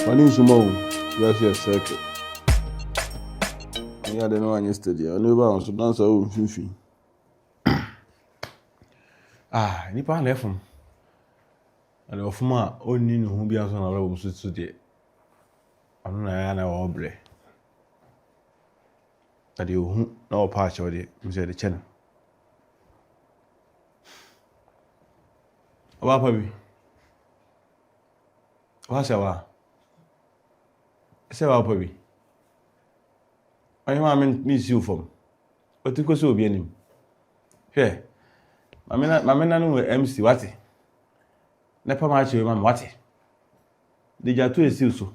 Wani nsuma o, just a circle. Ni ade no anyi steady. Oni ba on so dance o mfimfini. Ah, nipa na efum. Ana ofum a onni ne ho bi anso na wala wo so so de. Ɔno na ɛyɛ a na ɔwɔ brɛ. Na deɛ ɔhu na ɔpa akyɛw deɛ, ɛmu sɛ ɛde kyɛ no. Ɔbaa pa bi, ɔbaa sɛ wa, ɛsɛ ɔbaa pa bi. Ɔyɛ maa mi nsi wo fam, ɔti kɔ sɛ obi anim. Hwɛ, maame na maame na no wɔ MC wate. Ne pa ma akyɛw ma mi wate. De gya to esiw so.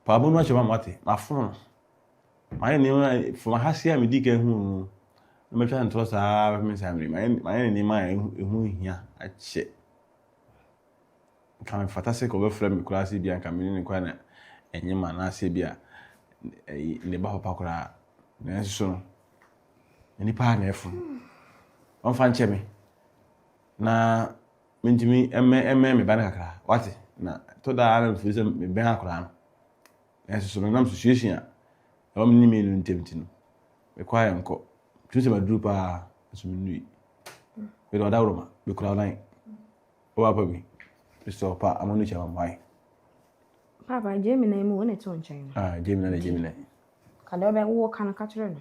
Paw mo no ahyɛ ma moate. Mafom no. Mayɛ nneɛma a from ha se a medii kan huu no na matwa no ntorɔ saa ara bɛpem nsa mmere. Mayɛ mayɛ no nneɛma a ɛho hia akyɛ. Nka mefata sɛ kɔbɛfrɛ me koraa sɛ bia nka me ne no koraa na ɛnyɛ ma anaasɛ bi a ne ba papa koraa. Nanso no, nnipa a na ɛfom. Ɔmfa nkyɛ me na Mintumi mmɛn me ba no kakra, woate, na ɛtɔ da ara na mifii sɛ mebɛn akwadaa no. Nanso so no, nam susuasua a ɛwɔ me ne me yere ntam nti no, mekɔ a yɛnkɔ. Tumi sɛ maduru paa, nso minnui. Mede ɔdawuroma bekura wo nan. Wɔ apa bi, mesɛ ɔpa ama no kyɛ ma mmoae. Papa, Gemini yi mu wo na ɛto nkyɛn no. Ah, Gemini na Gemini. Ka deɛ ɔbɛ wo ka no ka kyerɛ no.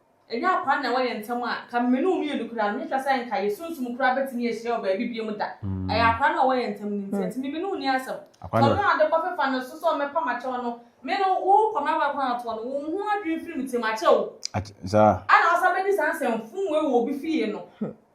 Nnyɛ akwaa na ɛwɔ yɛn ntam a, nka me ne wo mmienu koraa no, mehwehwɛ sɛ nka yɛn sunsum koraa betumi ahyia wɔ baabi bio da. Ɛyɛ akwaa no a ɔwɔ yɛn ntam no nti. Ɛnti me ne wo nni asɛm. Sɛ ɔno na ade kɔfefa no so sɛ ɔmmɛpam akyɛ wo no, me no, wo kɔ m'awa aguantoɔ no, wo ho adwene firi me tirim akyɛ o. Ana ɔsan bɛdi saa nsɛmfum wei wɔ obi fie no?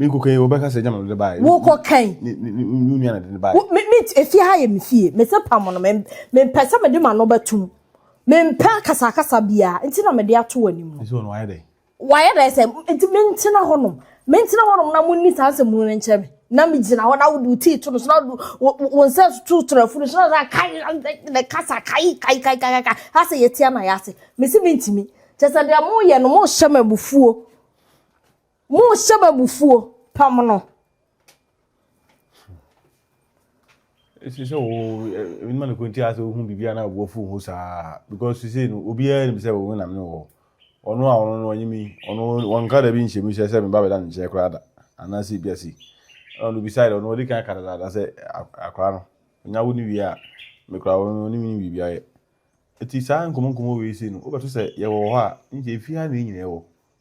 Me nkɔ kan wɔbɛka sɛ gyama no de baeɛ. Wokɔ kan. Wo nua na de no baeɛ. Me me efie ha yɛ me fie. Me se pam no me me mpɛ sɛ me de ma no bɛtum. Me mpɛ kasakasa biara nti na me de ato w'anim no. Nti wɔn wayɛ dɛ. Wayɛ dɛ sɛ nti me ntena hɔ nom. Me ntena hɔ nom na mo nni saa nsɛm no nkyerɛ me. Na me gyina hɔ na wo do tii to no so na wo nsa to trafo no so na sɛ kai na kasa kai kai kai kai kai asɛ yɛtia na yɛase. Me se me ntimi. Kyɛ sɛ deɛ mo yɛ no mo hyɛ me abufuo. Monhyɛ me abufuo, pam no. ɛsɛ sɛ wo nima no kɔnti asɛ wohu biribia na aboa fu ho saa because sisei no obiara nim sɛ wo nam ne wɔ ɔno a ɔno no ɔnye mi ɔno wɔnka da bi nhyɛ mu sɛ sɛ meba bɛda ne nkyɛn koraa da anaasɛ bia si ɔno bisae ɔno ɔde kan ka dadaada sɛ akora no nya wo ne wie a mekora wo no ne me biribia yɛ ɛti saa nkɔmmɔ nkɔmmɔ wei sei no wobɛto sɛ yɛwɔ hɔ a nkyɛ ɛfi ha na ɛnyina ɛwɔ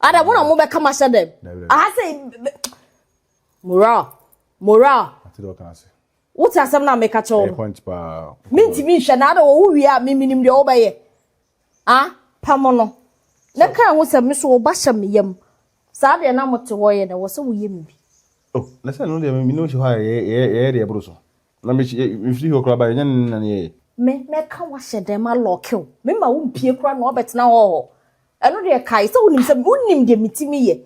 Ada mo na mo bɛka ma hyɛ dɛm. Aha sɛ moral moral. Wote asɛm na meka kyɛw no. Mintimi nhwɛ na ada wo wie a miminim deɛ wobɛyɛ. Ah pam no. Na kan ho sɛ me so wo ba hyɛ me yam. Saa deɛ na mo te hɔ yɛ na wɔ sɛ woyɛ me bi. Oh, na sɛ no deɛ me ne wo hyɛ hɔ a yɛyɛ deɛ ɛboro so. Na me yɛ mfiri hɔ koraa ba yɛnyɛ ne nane yɛyɛ. Me mɛka wahyɛ dɛm alɔke wo me ma wo mpie koraa na wabɛtena hɔ hɔ ɛno deɛ kae sɛ wonim sɛ wonim deɛ metumi yɛ.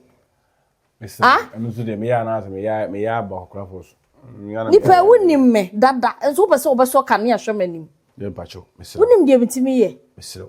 Mese ah? ɛno nso deɛ meyɛ anaasɛ meyɛ meyɛ aba ɔkorafoɔ so. Nipa a wonim me dada nso wopɛ sɛ wobɛsɔ kanea hwɛ m'anim. Yɛ mpakyɛw mesrɛ. Wonim deɛ metumi yɛ. Mesrɛ.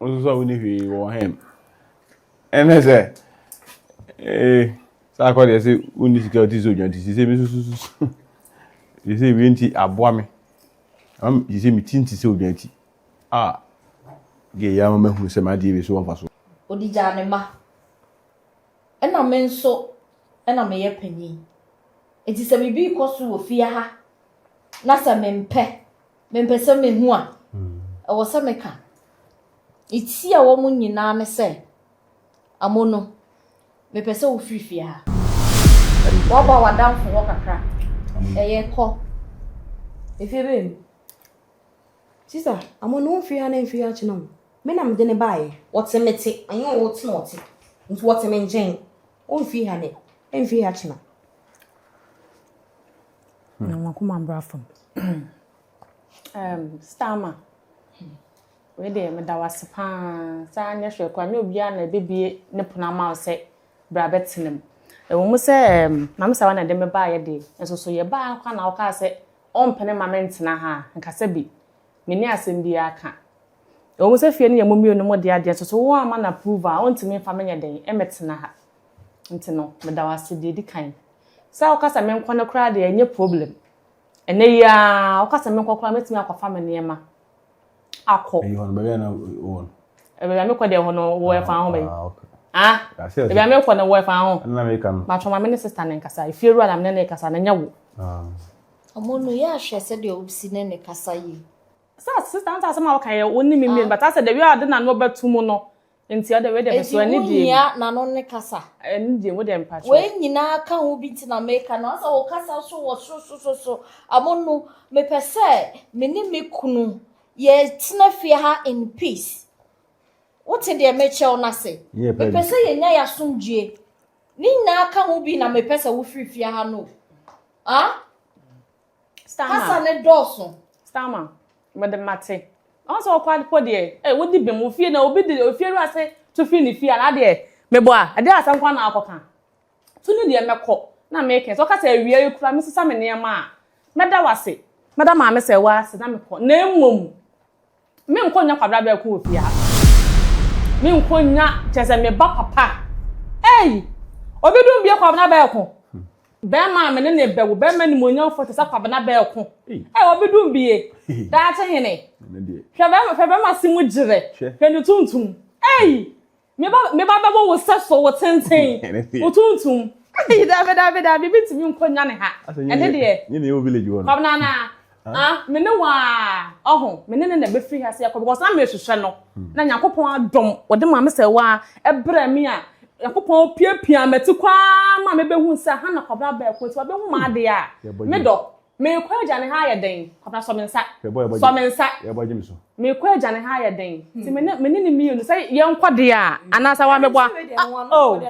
Wososo a wonni hwee wɔ hɛn. Ɛne sɛ ee sɛ akɔ deɛ sɛ wonni sika ɔte sɛ odwan ti sɛ me susususu te sɛ wie nti aboa me ama me te sɛ me ti nti sɛ odwan ti a deɛ yɛ ama mahu sɛ m'adeɛ bi so wɔ mfa so. Ɔde gyaa ne mma. Ɛna me nso ɛna meyɛ panin. Nti sɛ biribi rekɔ so wɔ fie ha na sɛ mempɛ Mempɛ sɛ mehu a ɛwɔ sɛ meka. Metia wɔn nyinaa ne sɛ, Amono, mepɛ sɛ wofiri fie ha. Woaba w'adamfo hɔ kakra. Ɛyɛ, kɔ. Efie bɛn mu? Sista, Amono mfiri ha na mfiri ha kyena o. Me na mede no baeɛ. Wɔte me te, ɛnyɛ wo te na wɔte. Nti wɔte me nkyɛn. Ɔmfiri ha nnɛ, ɛmfiri ha kyena. Na wɔn akoma bra fam. um, Starmer, wei deɛ meda wo ase paa saa nyɛ hwɛ kora nyɛ obiara na ɛbɛbie ne pono ama wo sɛ bra bɛtena mu. Ɛwɔ mu sɛ um, maame sawa na ɛde me baayɛ deɛ nso so yɛ baa nkwa na wokaa sɛ ɔmpene ma mentena ha a nkasa bi menni asɛm biara ka. Ɛwɔ mu sɛ fie no yɛ mo mmienu mo deɛ adeɛ nso so wo ama no approve a ɔntumi mfa menyɛ dɛn ɛmɛtena ha. Nti no, meda wo ase deɛ ɛdi kan. Sɛ woka sɛ menkɔ no koraa deɛ ɛnyɛ problem. Ɛnɛ yi ara, woka sɛ menkɔ koraa mɛtumi akɔfa me nneɛma akɔ. Ɛyi hɔ no, baabi a na wɔ no. Baabi a mekɔ deɛ hɔ no, wɔ ɛfa ho bɛyi. Ah, okay. Ah, baabi a mekɔ no, wɔ ɛfa ho. Ɛna meka no. Matwɔ ma me ne sista no nkasa. Efie wura na me ne ne kasa, na ɛnyɛ wo. Ah. Ɔmo no, yɛ ahwɛ sɛdeɛ wobɛsi ne ne kasa yie. Sɛ sista no sɛ asɛm a woka yɛ wo ne me mmienu, but asɛ the way a ɔde n'ano bɛto mu no, Nti ɔde wei deɛ bɛso ɛne deɛ. Ɛdi wo nyia n'ano ne kasa. Ɛne deɛ wo deɛ mpakyɛ. Wei nyinaa ka ho bi nti na meka no asɛ wo kasa so wɔ sosososo amo no mepɛ sɛ me ne me kunu yɛ tena fie ha in peace. Wote deɛ mekyɛ wo n'ase. Mepɛ sɛ yɛ nya yɛ asomdwie. Ne nyinaa ka ho bi na mepɛ sɛ wo firi fie ha no. Ah? Starman. Kasa ne dɔɔso. Starman, mede mate. Ɔn sɛ ɔkɔ adepɔ deɛ, eh, wodi bem wo fie na obi de ofie wura se tu firi ne fie a na adeɛ mebɔ a, ɛdeɛ asɛm kwan na akɔ ka. Tu ne deɛ mɛkɔ na meke sɛ ɔka sɛ awia yi kura mesesa me nneɛma a, mɛda wase. Mɛda maame sɛ wase na mekɔ na mmom. Me nkɔ nya kwabra bɛ ko wɔ fie ha. Me nkɔ nya kyɛ sɛ me ba papa. Ei! Obi dum bie kwabra bɛ ko. Bɛrima a me ne ne bɛwo bɛrima ni mo nya fo te sɛ kwabra bɛ ko. Ei obi dum bie. Daakye hene. Hwɛ bɛrima hwɛ bɛrima si mu gyerɛ. Hwɛ ne tuntum. Ei! Me ba me ba bɛbɔ wo sɛ so wo tenten wo tuntum. Ayi daabi daabi daabi bi ntumi nkɔ nya ne ha. Ɛne deɛ. Nye ne yɛ wɔ village wɔ no. Kɔm nana. Ah me ne waa ɔho me ne ne na bɛfiri ha sɛ kɔ because na mehwehwɛ no na nyankopɔn adom wɔde maa me sɛ waa ɛbrɛ me a nyankopɔn opiapia mati kɔ ara ma mebɛhu sɛ ha na kɔbra bɛɛko nti wabɛhu m'adeɛ a me dɔ. Merekɔ agya ne ha ayɛ dɛn? Kwabena sɔ me nsa. Sɔ me nsa. Merekɔ agya ne ha ayɛ dɛn? Ti me ne me ne ne mmienu sɛ yɛn kɔ deɛ a anaasɛ wa mɛbɔ a. Oh,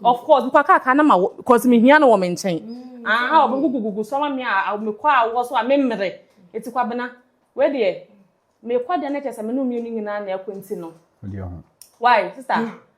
of course mekɔ akaaka na ma wɔ cause me hia no wɔ me nkyɛn. Aha ɔbɛn gugugugu sɔ ma me a mekɔ a wɔ so a me mmere. Eti kwabena wei deɛ mekɔ deɛ na kyɛ sɛ me ne mmienu nyinaa na ɛkɔ nti no. Why sister?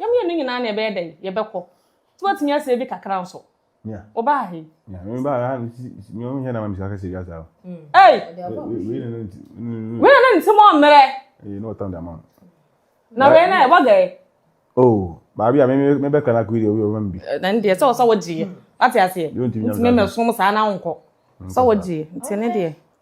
Yɛ mmienu no nyinaa na yɛbɛyɛ dɛn? Yɛbɛkɔ. Nti woatumi asɛ bi kakra nso. Wobaa he? Ei! Wei na na ne nsɛm ɔmmerɛ. Na wei na ɛbɔ gɛɛ. Oh, baabi a mebɛka na kuri deɛ obi ɔbɛma me bi. Na ne deɛ sɛ ɔsɛ wogyeeɛ. Wate aseɛ? Nti memmɛsom saa na wonkɔ. Sɛ wogyeeɛ. Nti ne deɛ.